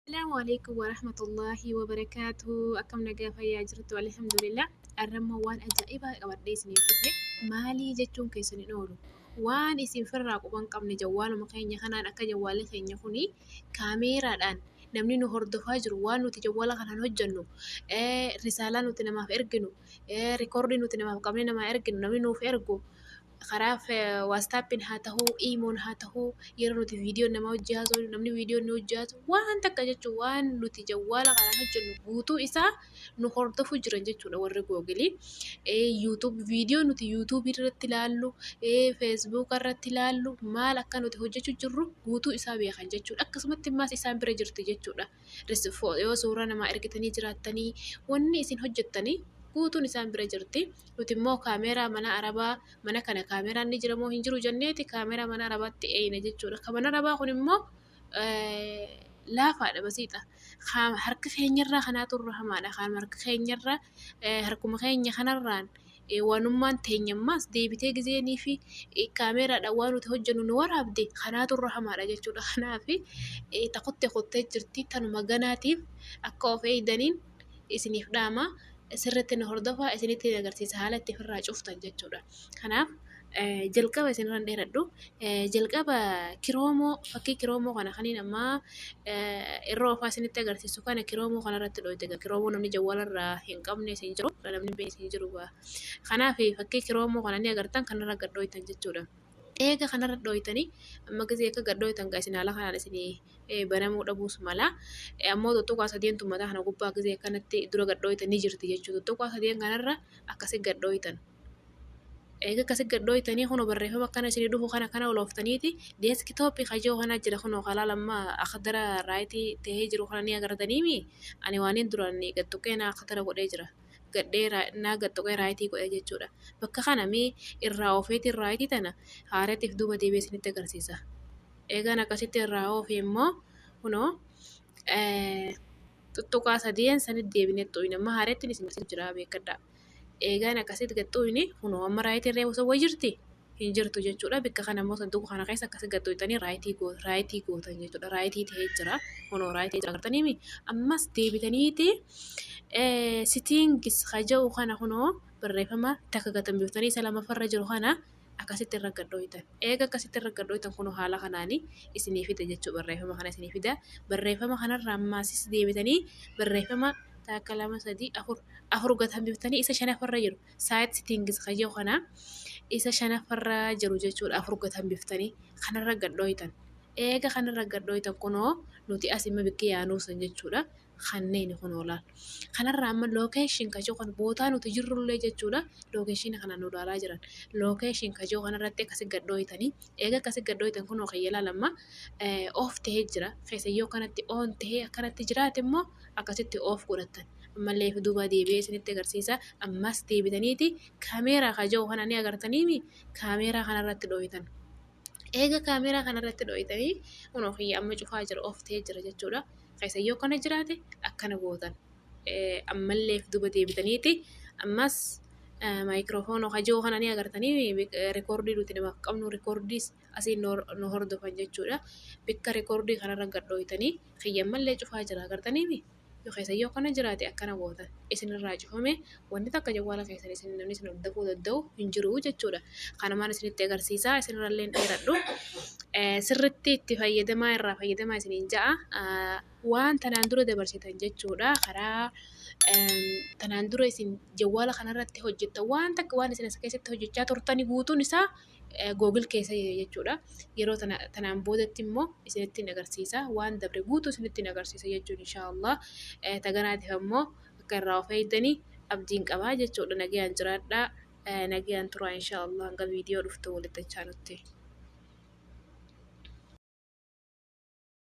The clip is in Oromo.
Assalaamu alaikum warahmatullaahi wabarakaatuhu akkam nagaa fayyaa jirtu alhamdulillah arrammoo waan ajaa'ibaa qabadhee isiniif dhufe maalii jechuun keessan hin oolu waan isin firraa quban qabne jawwaaluma keenya kanaan akka jawwaalli keenya kuni kaameeraadhaan namni nu hordofaa jiru waan nuti jawwaala kanaan hojjennu eh, risaalaa nuti namaaf erginu eh, rikoordii nuti namaaf qabne namaa erginu namni nuuf ergu karaa waastaappiin haa ta'uu, iimoon haa ta'uu yeroo nuti viidiyoon namaa wajjin haasofnu, namni viidiyoon nu wajjin haasa'u waan takka jechuun waan nuti jawwaala kanaan hojjennu guutuu isaa nu hordofuu jiran jechuudha warri googilii. Yuutuub viidiyoo nuti yuutuubii irratti ilaallu, feesbuuka irratti ilaallu maal akka nuti hojjechuu jirru guutuu isaa beekan jechuudha. Akkasumatti immaas isaan bira jirti jechuudha. yoo suuraa namaa ergitanii jiraattanii wanni isin hojjettanii guutuun isaan bira jirti. Nuti immoo kaameeraa mana arabaa mana kana kaameeraan ni jira moo hin jiru jenneeti kaameeraa mana arabaatti eeyna jechuudha. Kan mana arabaa kun immoo laafaadha basiidha. Harka keenyarraa kanaa turra hamaadha. Kan harka keenyarraa harkuma keenya kanarraan wanummaan teenya immoo as deebitee gizeenii fi kaameeraadhaan waan nuti hojjennu nu waraabde kanaatu irra hamaadha jechuudha. Kanaaf ta kutte kuttee jirti tanuma ganaatiif akka of eegdaniin isiniif dhaama sirriitti na hordofaa isinitti agarsiisa haala itti ofirraa cuftan jechuudha. Kanaaf. jalqaba isin irra hin dheeradhu. Jalqaba kiroomoo fakkii kiroomoo kana kaniin ammaa irra ofaa isinitti agarsiisu kana kiroomoo kana irratti dhooyte egaa kiroomoo namni jawwaala irraa hin qabne isin jiru namni hin beekne isin jiru egaa. Kanaaf fakkii kiroomoo kana ni agartan kanarra gad dhooytan jechuudha. Eega kanarra dhooytanii amma gisee akka gad dhooytan gaa isin haala kanaan isin banamuu dhabuus mala. Ammoo tuttuqaa sadeen tummataa kana gubbaa gisee akkanatti dura gad dhooytan ni jirti jechuudha. Tuttuqaa sadeen kanarra akkasi gad dhooytan. Eega akkasi gad dhooytanii kunoo barreeffama akkana isinii dhufu kana kana olooftaniiti deeskitoopi ka je'u kana jira kunoo ka laalan maa akhdara raayiti tahee jiru kana ni agartaniimii ani waaniin duraan gad tuqee naa akhdara godhee jira gadhee naa gad tuqee raayitii godhe jechuu dha bakka kana mee irraa oofeeti raayitii tana haaratiif duuba deebi'ee isinitti agarsiisa. Eegaan akkasitti irraa oofee immoo kunoo xuxxuqaa sadiin sanitti deebinee xuqna amma haarettiin isin agarsiisu jira beekkadhaa. eegaan akkasitti gad xuyni kunoo amma raayitiin reefu sun wayii jirti hin jirtu jechuudha bikka kana immoo sanduuqa kana keessa akkasi gad xuyxanii raayitii goo- raayitii gootan jechuudha raayitii ta'ee jira kunoo raayitii ta'ee jira agartaniimi ammas deebitaniiti sitiingis haja'u kana kunoo barreeffama takka gatambiftanii isa lamaffarra jiru kana akkasitti irra gad dhooytan. Eega akkasitti irra gad dhooytan kunoo haala kanaani isinii fida jechuu barreeffama kana isinii fida. Barreeffama kanarraa ammaasisi deebitanii barreeffama taakka lama sadii afur afur gad hambiftanii isa shanaffarra jiru saayit sitiingis kayyoo kana isa shanaffarra jiru jechuudha afur gad hambiftanii kanarra gad dhooytan. Eega kanarra gad dhooytan kunoo nuti as imma bikki yaanuu san jechuudha. kanneen kun oolaan. Kanarraa amma location kajoo kan bootaa nuti jirrullee jechuudha location kana nu ilaalaa jiran. Location kajoo kanarratti akkasi gad dhooytanii eega akkasi gad dhooytan kun ookee yelaan amma off ta'ee jira. Keessa yoo kanatti on ta'ee akkanatti jiraate immoo akkasitti off godhattan. Ammallee fi duuba deebi'ee isinitti agarsiisa. Ammas deebitaniiti kaameeraa kajoo kana ni agartaniimi kaameeraa kanarratti dhooytan. Eega kaameeraa kana irratti dhooytanii kunoo kiyya amma cufaa jira off ta'ee jira jechuudha. Keessan yoo kana jiraate akkana gootan. Ammallee duuba deebitaniiti ammas maayikiroofoonoo hajoo kana ni agartanii rikoordii nuti namaaf qabnu rikoordiis asii nu hordofan jechuudha. Bakka rikoordii kanarra gad dhooytanii kiyya ammallee cufaa jira agartaniimi. nu keessa yoo akkana jiraate akkana goota isin irraa cufame wanti takka jawwaala keessan isin namni isin hordofuu danda'u hin jiru jechuudha. Kanumaan isinitti agarsiisaa isinirrallee hin dheeradhu. Eh, Sirritti itti fayyadamaa irraa fayyadamaa isiniin ja'a. Ah, Waan tanaan dura dabarsitan jechuudha karaa em, tanaan dura isin jawwaala kanarratti hojjettan waan takka waan isin as keessatti hojjechaa turtani guutuun isaa Google keessa jira jechuudha. Yeroo tana tanaan boodatti immoo isinittiin agarsiisa. Waan dabre guutuu isinittiin agarsiisa jechuun inshaallah. Taganaatiif ammoo akka irraa of eegdanii abdiin qabaa jechuudha. Nagayaan jiraadhaa. Nagayaan turaa inshaallah hanga viidiyoo dhuftu walitti achaanutti.